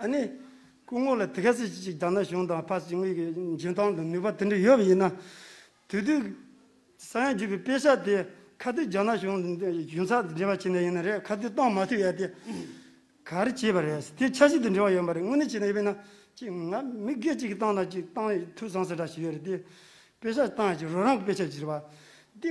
ཨ་ནི། སྐུ་ངོ་ལ་དེ་ག་ཟེར་གྱི་ཅིག་རྒྱ་ནག་གཞུང་དང་ཕག་ཕྱི་དངུལ་གྱི་འཇོན་ཐང་དང་ནུས་པ་དེ་འདྲ་ཡོད་པ་ཡིན་ན། དུས་དུས། ས་ཡང་བརྒྱུད་པའི་དཔེ་ཆ་དེ་ཁ་ཐུག་རྒྱ་ནག་གཞུང་གཞུང་ཚགས་དེ་འབྲེལ་བ་བྱེད་ན་ཡིན་ན་རེད་ཁ་ཐུག་གཏོང་མ་ཐུབ་ཡ་དེ། གར་བྱས་པ་རེད་དེ་ཆ་ཤས་དེ་འབྲེལ་བ་ཡོད་མ་རེད་དངོས་གནས་བྱས་ན་ཡོད་པས་ན་ཅིག་ང་མི་སྒེར་གཅིག་གི་བཏང་ན་ཅིག་བཏང་ཐུག་བཟང་ཟེར་གྲ་ཞིག་ཡོད་རེད་དེ། དཔེ་ཆ་བཏང་ཡ་ཅིག་རོ་རང་གི་དཔེ་ཆ་བྱེད་པ། དེ།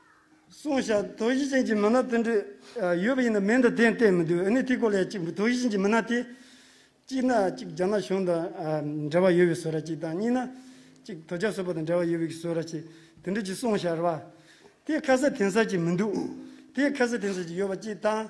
སོང་བཞག་དོ་བཞི་ཅན་གྱི་མི་སྣ་དེ་འདྲ་ཡོད་པ་ཡིན་ན་མིང་དང་དེ་བསྟན་མི་འདུག་ཨནི་ཐི་ཀོ་ལའི་གཅིག་དོ་བཞི་ཅན་གྱི་མི་སྣ་དེ། གཅིག་ན་གཅིག་རྒྱ་ནག་གཞུང་དང་འབྲེལ་བ་ཡོད་པའི་བཟོ་ར་གཅིག་དང་གཉིས་ན་གཅིག་དོ་རྒྱ་བཟོ་པ་དང་འབྲེལ་བ་ཡོད་པའི་བཟོ་ར་གཅིག་དེ་འདྲ་གྱི་སོང་བཞག་ར་བ་དེ་ཁ་གསལ་དེང་སང་གྱི་མི་འདུག་དེ་ཁ་གསལ་དེང་སང་གྱི་ཡོད་པ་གཅིག་དང།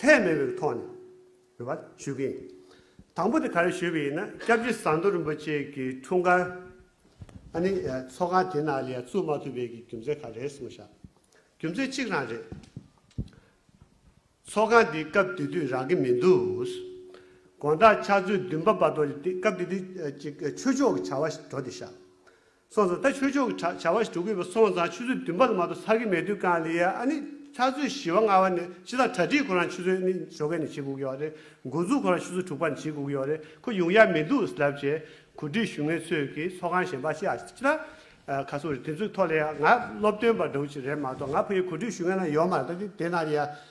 ལྷད་མེད་པའི་ཐོག་ནས་ནུས་པ་ཞུ་གི་ཡིན། དང་པོ་དེ་ག་རེ་ཞུ་གི་ཡིན་ན་སྐྱབས་རྗེ་ཟངས་མདོག་རིན་པོ་ཆེ་གི་འཁྲུངས་སྐར། ཨ་ནི་ཚོགས་ཁང་དེ་ནང་ལ་ཡང་བཙུགས་མ་ཐུབ་པའི་གི་རྒྱུ་མཚན་ག་རེ་སོང་ཤག་རྒྱུ་མཚན་གཅིག་རང་རེད། ཚོགས་ཁང་དེ་སྐབས་དེ་དུས་རག་གི་མི་འདུག། དགོངས་དག་ཕྱག་མཛོད་བདུན་པ་བར་དོ་སྐབས་དེ་དུས་ཀྱི་ཆོས་ཕྱོགས་ཀྱི་བྱ་བ་འགྲོ་དེ་ཤག། སོང་ཙང་ད་ཆོས་ཕྱོགས་ཀྱི་བྱ་བ་ཞིག་གྲུབ་དགོས་པས་སོང་ཙང་ཆུ་ཚོད་བདུན་པ་ལ་མ་གཏོགས་ཚར་གི་མེད་དུས་ཀང་ལི་ཡ་ཨ་ནི་ཚར་ཚོད་བཞི་བ་ལྔ་བ་ནས་ཕྱི་ཟླ་གྲ་སྒྲིག་ཁོ་རང་ཆུ་ཚོད་ནི་ཞོ་གས་ནི་བྱེད་དགོས་ཀྱི་བ་རེད་འགོ་འཛུགས་ཁོ་རང་ཆུ་ཚོད་དྲུག་པ་ནས་བྱེད་དགོས་ཀྱི་བ་རེད་ཁོ་ཡོང་ཡ་མི་འདུག་ཟླ་བཅས་གོ་སྒྲིག་ཞུ་མཁན་ཚོས་ཀྱི་ཚོགས་ཁང་གཞན་པ་ཤ་སྟག་ཨ་ཁ་སོང་རེད་དེ་ཚོའི་ཐོག་ལི་ཡ་ང་སློབ་སྟོན་པ་འདྲ་བོ་ཅིག་རེད་མ་གཏོགས་ང་ཕ་ཡུལ་གོ་སྒྲིག་ཞུ་མཁན་ན་ཡོག་མ་རེད་ད་དེ་ན་ལི་ཡ་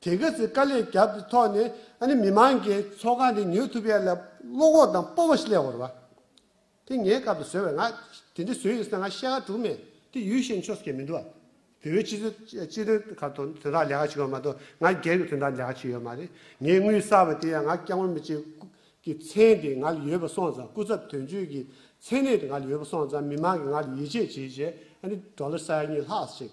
དེ་ག་ཚོད་དཀའ་ལས་བརྒྱབ་ཀྱི་ཐོག་ནས་ཨ་ནི་མི་མང་གི་ཚོགས་ཁང་འདི་ཉོ་ཐུབ་ཡས་ལ་བློ་ཁོག་དང་སྤོབས་པ་ཞིག་ལས་འོར་བ་དེ་ངའི་སྐབས་དུ་ཟོས་བས་ང་དེ་འདྲ་ཟོས་ཡོད་ས་ན་ང་ཤེས་ཁ་དྲུག་མེད་དེ་ཡུལ་ཤེས་ཆོག་ས་ཁྱེད་མི་འདུག་བ། བོད་པའི་སྤྱི་ཚོད་སྤྱི་དོན་ཁ་དོན་དོན་དག་ལས་ཁ་བྱེད་དགོས་པ་མ་གཏོགས་ང་སྒེར་གྱི་དོན་དག་ལས་ཁ་བྱེད་ཡོད་མ་རེད་ངའི་དངུལ་གསར་བ་དེ་ཡང་ང་སྐྱག་མོ་མི་བྱེད་ཀུ་གི་མཚན་དེ་ང་ལ་ཡོད་པ་སོང་ཙང་སྐུ་ཚབ་དོན་གཅོད་ཀྱི་མཚན་གནས་དེ་ང་ལ་ཡོད་པ་སོང་ཙང་མི་མང་གི་ང་ལ་ཡིད་ཆེས་བྱེད་བྱེད་ཨ་ནི Dollar སྲ་ཡར་གཉིས་ལྷག་ཅིག་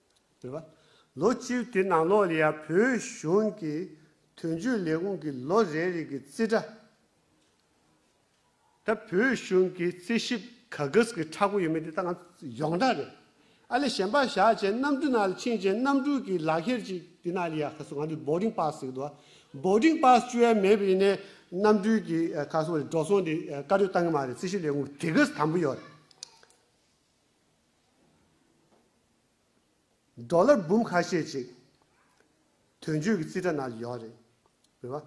རེད་པ། ལོ་བཅུའི་དེ་ནང་ལོགས་ལ་ཡང་བོད་གཞུང་གི་དོན་གཅོད་ལས་ཁུངས་ཀྱི་ལོ་རེ་རེ་གི་རྩིས་ཁྲ་དང་བོད་གཞུང་གི་རྩིས་ཞིབ་གཱགཟ་གི་ཁྲ་གོ་ཡོད་མེད་དེ་ད་ང་ཡོངས་གྲགས་རེད། ཨ་ལས་གཞན་པ་བཞག་བྱས་གནམ་གྲུ་ནང་ལ་ཕྱིན་བྱས་གནམ་གྲུ་གི་ལག་ཁྱེར་ཅིག་དེ་ནང་ལ་ཡ་ཁ་སོ་ང་འདི Boarding Pass ཟེར་གི་འདུག་བ Boarding Pass བཅུ་ཡ་མེད་པ་ཡིན་ནའི་གནམ་གྲུའི་གི་ཁ་སོ་འདི་འགྲོ་སོང་འདི་བཀའ་འཁྲོལ་བཏང་གི་མ་རེད་རྩིས་ཞིབ་ལས་ཁུངས་གི་གཱགཟ་དམ་པོ་ཡོད་རེད། འགྲོ་ལ་འབུམ་ཁ་ཤས་ཅིག་དོན་གཅོད་ཀྱི་རྩིས་ཁྲ་ནང་ཡོད་རེད་བེ་བ།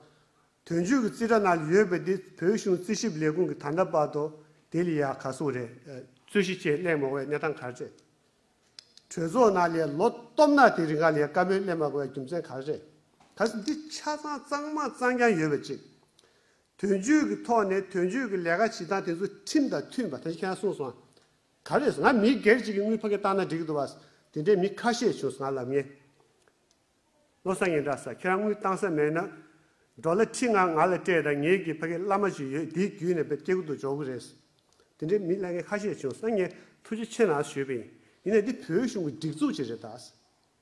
དོན་གཅོད་ཀྱི་རྩིས་ཁྲ་ནང་ཡོད་པའི་དེ་བོད་གཞུང་རྩིས་ཞིབ་ལས་ཁུངས་ཀྱི་ད་ལྟ་བར་དུ་དེ་ལས་ཡག་ག་སུ་རེད། རྩོད་གཞི་བཅས་གླེང་མ་དགོས་གནས་སྟངས་ག་རེད། གྲོས་ཚོགས་ནང་ལས་ལོ་སྟོབས་ན་དེ་རིགས་ག་ལས་བཀའ་མོལ་གླེང་མ་དགོས་རྒྱུ་མཚན་ག་རེད། ག་སུ་འདི་ཆ་ཚང་གཙང་མ་གཙང་རྐྱང་ཡོད་པ་ཅིག་དོན་གཅོད་ཀྱི་ཐོག་ནས་དོན་གཅོད་ཀྱི་ལས་ཀ་བྱེད་སྟངས་དེ་ཚོ་ཁྲིམས་དང་མཐུན་པ་ད་ཁྱེད་རང་གསུངས་སོང་ང། ག་རེ་ང་མི་སྒེར་གཅིག་གི་དངུལ་ཕ་གིས་བཏང་ན་འགྲིག་འདུག་བ། དེ་འདྲའི་མི་ཁ་ཤས་བྱུང་སོང་ང་ལབ་ངེས། བློ་བཟང་ངན་གྲགས་ས་ཁྱེད་རང་དངུལ་བཏང་ས་མེད་ན། འགྲོ་ལ་ཁྲི་ལྔ་ང་ལ་སྤྲད་ད་ངེད་ཀྱི་ཕ་གིས་བླ་མ་ཅིག་ཡོད་དེའི་རྒྱུད་ནས་བེད་སྐྱེལ་གུ་དུག་འཇོག་གི་རེད། དེ་འདྲའི་མི་གླ་ངན་ཁ་ཤས་བྱུང་སོང་ངས་ཐུགས་རྗེ་ཆེ་ནའང་ཞུས་པ་ཡིན། ཡིན་ནས་འདི་བོད་གཞུང་གི་སྒྲིག་འཛུགས་ཅིག་རེད་ད།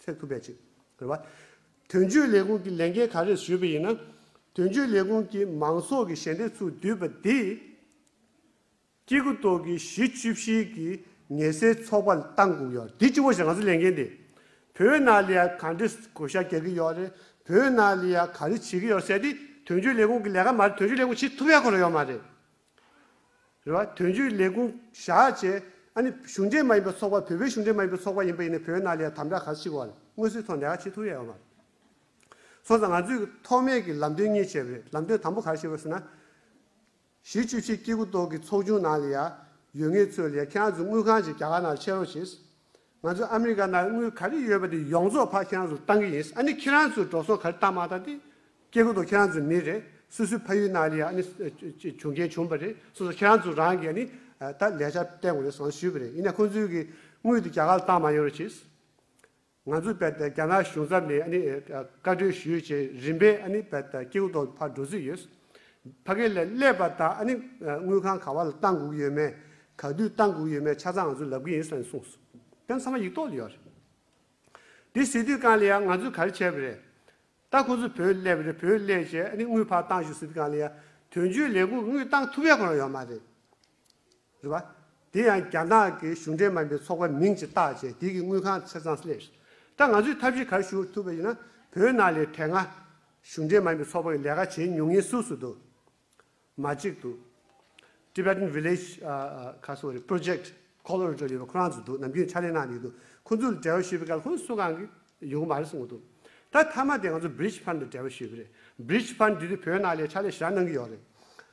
ཚད་ཐུབ་པའི་ཆེད་དོ། རེ་བ། དོན་གཅོད་ལས་ཁུངས་ཀྱི་ལས་འགན་ག་རེ་ཞུས་པ་ཡིན་ན། དོན་གཅོད་ལས་ཁུངས་ཀྱིས་མང་ཚོགས་ཀྱི་ཞལ་འདེབས་ཚུར་བསྡུས་པ་དེས། སྐྱེ་རྒུ་མདོ་གི་གཞི་བཅུ་བཞིའི་གི་ཉལ་སའི་ཚོགས་པ་ལ་ཏང་གུག་ཡོད་རེད་དེ་སྤྱི་བོ་ཞིག་ང་ཚོ་ལས་འགན་དེ་བོད་ནང་ལ་ཡང་ག་འདྲི་གོ་བཤའ་རྒྱག་གི་ཡོད་རེད་བོད་ནང་ལ་ཡང་ག་རེ་བྱེད་ཀྱི་ཡོད་རེད་ཟེར་ཏེ་དོན་གཅོད་ལས་ཁུངས་ཀྱི་ལས་ཀ་མ་རེད་དོན་གཅོད་ལས་ཁུངས་བྱེད་ཐུབ་ཡག་གོ་རེ་ཡོད་མ་རེད། རེ་བ་དོན་གཅོད་ལས་ཁུངས་བཞག་བྱས། ཨ་ནི་གཞུང་འབྲེལ་མ་ཡིན་པའི་ཚོགས་པ་བོད་པའི་གཞུང་འབྲེལ་མ་ཡིན་པའི་ཚོགས་པ་ཡིན་པ་ཡིན་ནའི་བོད་ནང་ལས་དམ་དྲག་ག་ཚོད་བྱེད་དགོས་བ་ལས་སྔོན་སྲོལ་ཐོག་ནས་ཡག་བྱེད་ཐུབ་ཡ་ཡོད་མ་རེད། སོང་ཙང་ང་ཚོས་ཀྱི་ཐོག་མེད་ཀྱི་ལམ་སྟོན་གཉིས་བྱས་བ་རེད་ལམ་སྟོན་དང་པོ་ག་རེ་བྱེད་དགོས་ཟེར་ན། གཞིས་བཅུ་ཆེ་སྐྱེ་རྒུ་མདོག་གི་ཚོགས་ཆུང་ནང་ལ་ཡ་ཡོད་ངེས་ཚོད་ལས་ཁྱེད་རང་ཚོས་དངུལ་གང་བྱེད་རྒྱ་གར་ནང་ལ་ཆས་རོགས་བྱས། ང་ཚོས་ཨ་མི་རི་ཀ་ནང་དངུལ་ག་རེ་ཡོད་པ་དེ་ཡོངས་རྫོགས་ཕར་ཁྱེད་རང་ཚོར་བཏང་གི་ཡིན་ཨ་ནི་ཁྱེད་རང་ཚོས་འགྲོ་སོང་ག་རེ་བཏང་མ་བཏང་དེ། སྐྱེ་རྒུ་མདོ་ཁྱེད་རང་ཚོའི་མི་རེད་སོ་སོའི་ཕ་ཡུལ་ནང་ལ་ཡང་ཨ་ནི་བྱུང་རྐྱེན་བྱུང་བ་རེད་སོ་སོ་ཁྱེད་རང་ཚོ་རང་གིས་ཨ་ནི་ད་ལས་འཆར་བསྟན་དགོས་རེད་ཟེར་ཞུས་པ་རེད་ཡིན་ན་ཁོང་ཚོའི་གི་དངུལ་དེ་རྒྱ་གར་ལ་བཏང་མ་ཡོང་རེད་ཅེས། ང་ཚོས་བལ་རྒྱ་ནག་གཞུང་ཚབ་ནས་ཨ་ནི་བཀའ་འཁྲོལ་ཞུས་རྗེས་རིམ་པས་ཨ་ནི་བལ་སྐྱེ་རྒུ་མདོ་ཕར་འགྲོ་རྩིས་ཡོད། ཕ་གི་ལས་ཀླད་པ་དང་ཨ་ནི་དངུལ་ཁང་ག་བ་ལ་བཏང་དགོས་ཀྱི་ཡོད་མེད་ག་དུས་བཏང་དགོས་ཀྱི་ཡོད་མེད་ཆ་ཚང་ང་ཚོས་ལབ་ཀྱི་ཡིན་སོགས་ནས་གསུངས་སོང། དེ་ཚང་མ་ཡིག་ཐོག་ལ་ཡོད་རེད། དེ་སྲིད་དུས་གང་ལ་ཡང་ང་ཚོས་ག་རེ་བྱས་པ་རེད། ད་ཁོ་ཚོས་བོད་ཀླད་པ་རེད་བོད་ཀླད་ཅེས་ཨ་ནི་དངུལ་ཕར་བཏང་ཞུ་སྲིད་དུས་གང་ལ་ཡང་དོན་གཅོད་ལས་ཁུངས་དངུལ་བཏང་ཐུབ་ཡ་ཁོ་རང་ཡོད་མ་རེད། རེད་པ། དེ་ཡང་རྒྱ་ནག་གི་གཞུང་འབྲེལ་མ་ཡིན་པའི་ཚོགས་པ་མིང་ཅིག་བཏགས་རྗེས་དེ་གི་དངུལ་ཁང་ཚེ་ཚང་སླེབས། ད་ང་ཚོས་ཐབས་ཤེས་ག་རེ་ཞུ་ཐུབ་པ་ཡིན་ན་བོད་ནང་ལས་བྲལ་ང། གཞུང་འབྲེལ་མ་ཡིན་པའི་ཚོགས་པ་གི་ལས་ཀ་བྱེད་མྱོང་ཡིན་སུ་སུ་འདུག། མ་གཅིག་འདུག། Tibetan Village། ཁ་སོ་རེད Project། Colorado ཡོད་པ་ཁོ་རང་ཚོ་འདུག་ནམ་རྒྱུན་ཕྱག་ལས་གནང་ཡོད་འདུག་ཁོ་ཚོ་ལ་འབྲེལ་བ་ཞུས་པའི་སྐབས་ཁོ་ཚོ་སུ་གང་གི་ཡོང་གི་མ་རེད་གསུང་གི་འདུག་ད་མཐའ་མ་དེ་ང་ཚོ Bridge Fund ལ་འབྲེལ་བ་ཞུས་པ་རེད Bridge Fund དེ་དུས་བོད་ནང་ལས་ཕྱག་ལས་ཞེ་དྲག་གནང་གི་ཡོད་རེད།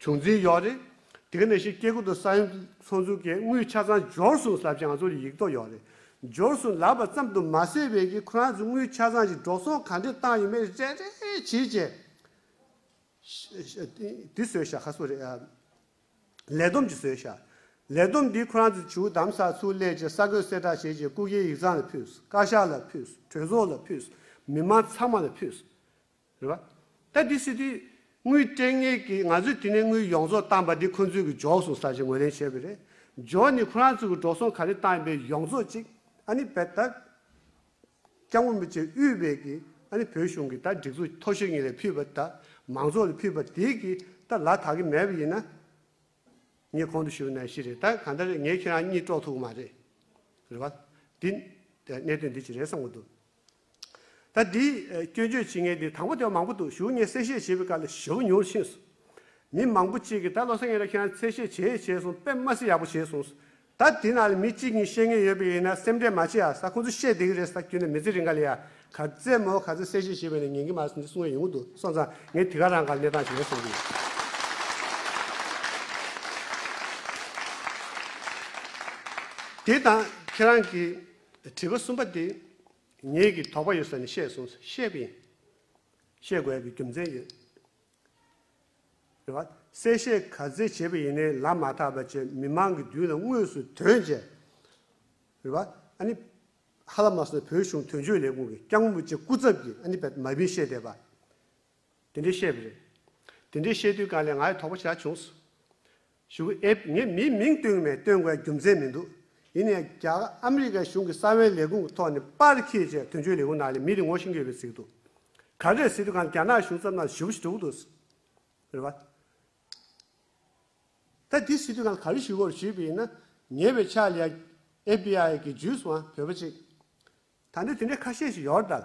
བྱུང་འཛིན་ཡོད་རེད། དེ་ག་ནས་ཤེས་སྐྱེ་རྒུ་དང་ས་ཡོམ་ཚོགས་འཛུགས་ཀྱི་དངུལ་ཆ་ཚང་འབྱོར་སོང་ཟབ་ཅིང་ང་ཚོར་ཡིག་ཐོག་ཡོད་རེད། འབྱོར་སོང་ལབ་པ་ཙམ་དུ་མ་ཟད་བས་ཀྱི་ཁོ་རང་ཚོའི་དངུལ་ཆ་ཚང་ཞིག་འགྲོ་སོང་ག་འདྲས་བཏང་ཡོད་མེད་རེད་རེད་བྱས་རྗེས། དེ་བཟོས་བཞག་ཁ་སོ་རེད། ལས་བསྡོམས་ཀྱི་བཟོས་བཞག། ལས་བསྡོམས་འདི་ཁོ་རང་ཚོས་བྱིའུ་དམ་ས་ཚུར་སླེད་ཅིང་ས་གོས་གསེར་བྲག་བྱས་རྗེས་སྐུ་སྒེར་ཡིག་ཚང་ལ་ཕུལ། བཀའ་ཤག་ལ་ཕུལ། གྲོས་ཚོགས་ལ་ཕུལ། མི་མང་ཚང་མ་ལ་ཕུལ། རེད་བ། ད་དེ་སྲིད་དུས། དངུལ་སྤྲད་ངེས་ཀྱི་ང་ཚོས་དེ་ནས་དངུལ་ཡོངས་རྫོགས་བཏང་པ་འདི་ཁོ་ཚོས་གི་འཇོག་སོང་ས་ཞེས་ངོས་ལེན་བྱས་པ་རེད། འཇོག་ནི་ཁོ་རང་ཚོས་གི་འགྲོ་སོང་ག་རེ་བཏང་ཡོད་པའི་ཡོངས་རྫོགས་ཅིག་ཨ་ནི་བས་ད། སྐྱབས་མགོན་མི་ཆེན་དབུས་བས་གི་ཨ་ནི་བོད་གཞུང་གི་ད་སྒྲིག་འཛུགས་མཐོ་ཤོས་གཉིས་ལས་ཕུལ་བ་ད་མང་ཚོགས་ལ་ཕུལ་བ་དེའི་གི་ད་ལ་དག་གི་མེད་པ་ཡིན་ན། ངས་གོང་དུ་ཞུ་ནའི་ཤི་རེད་ད་གང་ལྟར་རེད་ངས་ཁྱེད་རང་གཉིས་དཀྲོག་ཐུབ་གི་མ་རེད། རེད་བ། དེ། གནད་དོན་འདི་ཅི་རེད་བསམ་གི་འདུག། ད་དེའི་སྐྱོན་བརྗོད་བྱེད་མཁན་དེ་དང་པོ་དེ་བ་མང་པོ་འདུག་ཞུ་ངས་གསལ་བཤད་བྱེད་པའི་སྐབས་ལ་ཞུ་བ་ཉུང་ཕྱིན་སོང། མི་མང་པོ་གཅིག་གིས་ད་བློ་སེང་ཡིན་ན་ཁྱེད་རང་གསལ་བཤད་བྱས་ཡས་བྱས་སོང་དཔེ་དམའ་སེ་ཡག་པོ་བྱས་སོང་ཟེར། ད་དེ་ནང་ལ་མི་གཅིག་གཉིས་ཤེས་མཁན་ཡོད་པས་ཡིན་ན་སེམས་ཁྲལ་མ་བྱེད་ཨ་ས་ཁོང་ཚོས་བཤད་བསྡད་ཀྱི་རེད་ས་བརྒྱུད་ནས་མི་ཚེ་རིང་ག་ལ་ཡ། ག་ཚད་མོ་ག་ཚད་གསལ་བཤད་བྱེད་པ་ནས་ཉན་གྱི་མ་སོང་འདི་གསུངས་ཡས་ཡོང་གི་འདུག་སོང་ཙང་ངས་དེ་ག་རང་ག་ལ་གནས་སྟངས་བྱས་སོང་གི། དེ་དང་ཁྱེད་རང་གིས་དྲི་བ་གསུམ་པ་འདི་ངེད་ཀྱིས་དོགས་པ་ཡོད་ས་ནས་བཤད་གསུངས་སོ་བཤད་པ་ཡིན། བཤད་དགོས་པའི་རྒྱུ་མཚན་ཡོད། དྲི་བ། གསལ་བཤད་ག་ཚད་བྱས་པ་ཡིན་ནའི་ལམ་མ་ཐག་པ་བཅས་མི་མང་གི་མདུན་ལ་དངོས་སུ་དོན་བྱས། དྲི་བ། ཨ་ནི། ཧ་ལ་མ་སོང་བོད་གཞུང་དོན་གཅོད་ལས་ཁུངས་ཀྱི་སྐྱག་མོ་བཅས་སྐུ་ཚབ་ཀྱིས་ཨ་ནི་བལ་མ་བིན་བཤད་བསྡད་པ། དེ་འདྲས་བཤད་པ་རེད། དེ་འདྲས་བཤད་དུས་གང་ལས་ང་ཡི་དོགས་པ་ཇི་ལྟར་བྱུང། ཞུ་གི་ཨེ། ངས་མིའི་མིང་བཏོན་གི་མེད་བཏོན་དགོས་པའི་རྒྱུ་མཚན་མི་འདུག་ཡིན་ནའི་རྒྱ་གར་ཨ་མི་རི་ཀའི་གཞུང་གི་ས་བོན་ལས་ཁུངས་ཀྱི་ཐོག་ནས་པར་ཁེ་བཅས་དོན་གཅོད་ལས་ཁུངས་ནང་ནས་མི་རེ་ངོ་ཤེས་ཀྱི་ཡོད་པའི་གཟིགས་འདུག་ག་གེར་གཟིགས་དུས་གང་ལས་རྒྱ་ནག་གཞུང་ཚབ་ནང་ཞུ་བ་ཞིག་འགྲོ་གི་འདུག་ཟེར་བ། ད་དེ་གཟིགས་དུས་གང་ལ་ག་རེ་ཞུ་དགོས་ཞུས་པ་ཡིན་ན་ཉེ་བའི་ཆར་ལས FBI གི་ཇུས་སུའང་བོད་པ་གཅིག་ད་ནི་དེ་འདྲས་ཁ་ཤས་ཤིག་ཡོད་རེད་དཱ།